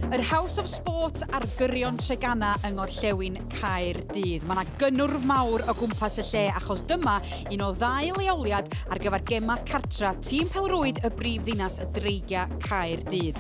Yr House of Sport ar gyrion Tregana yng Ngorllewin Caerdydd. Mae yna gynnwrf mawr o gwmpas y lle achos dyma un o ddau leoliad ar gyfer gemau cartra tîm pelrwyd y brif ddinas y Dreigiau Caerdydd.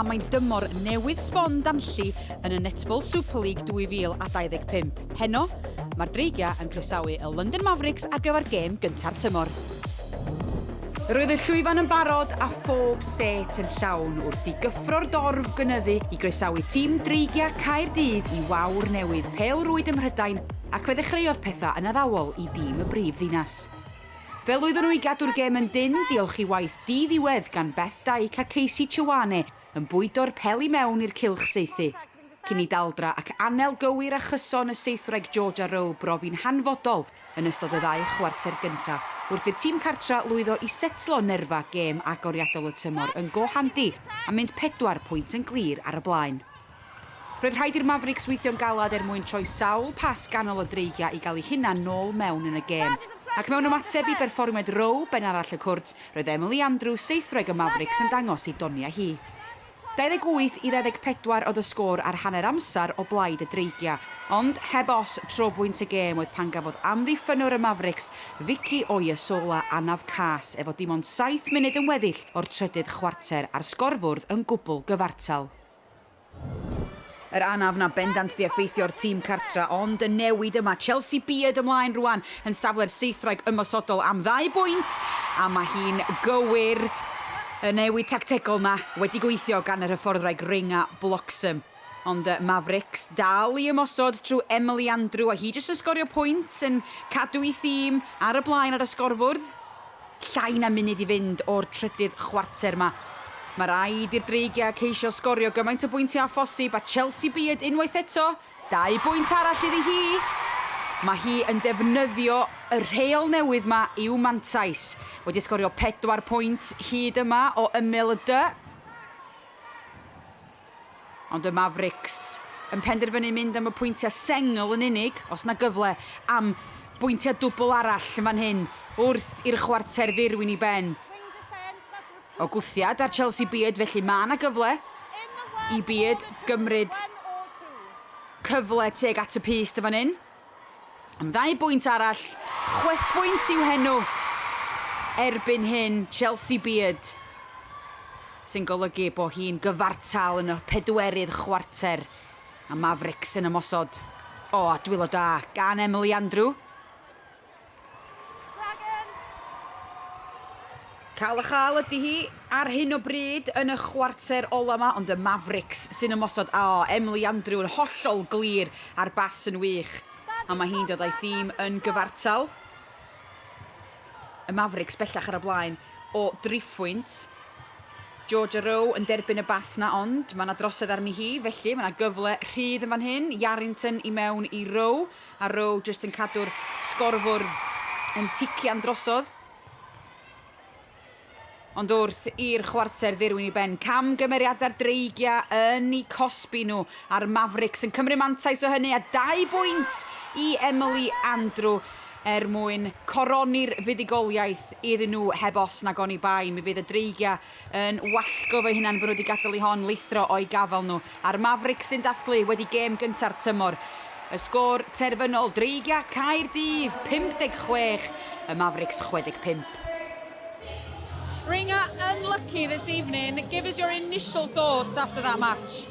A mae'n dymor newydd sbon danlli yn y Netball Super League 2025. Heno, mae'r Dreigiau yn croesawu y London Mavericks ar gyfer gêm gynta'r tymor. Roedd y llwyfan yn barod a phob set yn llawn wrth i gyffro'r dorf gynyddu i groesawu tîm Dreigiau Caerdydd i wawr newydd Pêl Rwyd ym Mhrydain ac fe ddechreuodd pethau yn addawol i dîm y brif ddinas. Fe lwyddon nhw i gadw'r gêm yn dynn diolch i waith di-ddiwedd gan Beth Dyke a Casey Chewane yn bwydo'r pel i mewn i'r cylch saethu, cyn i daldra ac anel gywir a chyson y seithwraig Georgia Rowe brofi'n hanfodol yn ystod y ddau chwarter gyntaf wrth i'r tîm cartra lwyddo i setlo nerfa gêm agoriadol y tymor yn go handi a mynd pedwar pwynt yn glir ar y blaen. Roedd rhaid i'r Mavericks weithio'n galed er mwyn troi sawl pas ganol y dreigiau i gael eu hunain nôl mewn yn y gêm. Ac mewn ymateb i berfformiad Rowe ben arall y cwrt, roedd Emily Andrews, seithwraig y Mavericks, yn dangos ei doniau hi. 28 i 24 oedd y sgôr ar hanner amser o blaid y dreigiau, ond heb os tro bwynt y gêm oedd pan gafodd amddiffynnwr y Mavericks, Vicky Oyesola, anaf cas efo dim ond saith munud yn weddill o'r trydydd chwarter a'r sgorfwrdd yn gwbl gyfartal. Yr anaf na bendant di effeithio'r tîm cartra ond y newid yma, Chelsea byd ymlaen rwan yn safle'r seithwraig ymosodol am ddau bwynt a mae hi'n gywir y newid tactegol na wedi gweithio gan yr hyfforddwraig Ring a Bloxham. Ond y Mavericks dal i ymosod trwy Emily Andrew a hi jyst yn sgorio pwynt yn cadw i thîm ar y blaen ar y sgorfwrdd. Llai na munud i fynd o'r trydydd chwarter 'ma. Mae rhaid i'r Dreigiau ceisio sgorio gymaint o bwyntiau â phosib a Chelsea byd unwaith eto. Dau bwynt arall iddi hi. Mae hi yn defnyddio y rheol newydd 'ma i'w mantais. Wedi sgorio pedwar pwynt hyd yma o ymyl y du. Ond y Mavericks yn penderfynu mynd am y pwyntiau sengl yn unig, os na gyfle am bwyntiau dwbl arall yn fan hyn wrth i'r chwarter ddirwyn i ben. O gwthiad ar Chelsea Beard felly mae na gyfle i Beard gymryd cyfle tuag at y pyst yn fan hyn. Am ddau bwynt arall, chwefwynt i'w henw erbyn hyn, Chelsea Beard, sy'n golygu bod hi'n gyfartal yn y pedwerydd chwarter a Mavericks yn ymosod. O, a dwylo da gan Emily Andrew. Dragons! Cael a chael ydy hi ar hyn o bryd yn y chwarter ola yma, ond y Mavericks sy'n ymosod. O, Emily Andrew yn hollol glir a'r bas yn wych. A mae hi'n dod a'i thîm yn gyfartal. Y Mavericks bellach ar y blaen o driphwynt. Georgia Rowe yn derbyn y bas na, ond mae yna drosedd arni hi, felly mae yna gyfle rhydd yn fan hyn. Yarrington i mewn i Rowe. A Rowe jyst yn cadw'r sgorfwrdd yn tician drosodd. Ond wrth i'r chwarter ddirwyn i ben, cam gymeriadau'r Dreigiau yn eu cosbi nhw, a'r Mavericks yn cymryd mantais o hynny a dau bwynt i Emily Andrew er mwyn coroni'r fuddugoliaeth iddyn nhw heb os nag oni bai. Mi fydd y Dreigiau yn wallgo fy hunan fy nhw wedi gadael i hon lithro o'i gafael nhw, a'r Mavericks sy'n dathlu wedi gêm gynta'r tymor. Y sgôr terfynol, Dreigia Caerdydd 56, y Mavericks 65. Dreigia unlucky this evening, give us your initial thoughts after that match?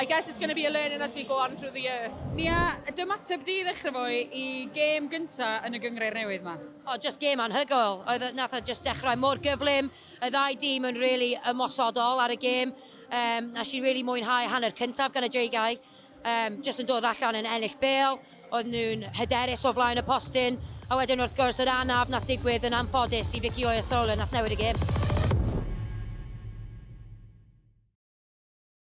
I guess it's going to be a learning as we go on through the year. Nia, dy ymateb di i ddechrau fo i gêm gynta yn y gyngreir newydd ma? O, oh, just gêm anhygoel. Oedd e, nath o just dechrau mor gyflym. Y ddau dîm yn really ymosodol ar y gêm. Um, na si really mwynhau hanner cyntaf gan y dreigiau. Um, just yn dod allan yn ennill bel. Oedd nhw'n hyderus o flaen y postyn. A wedyn wrth gwrs yr anaf nath digwydd yn anffodus i Vicky Oyasola nath newid y gêm.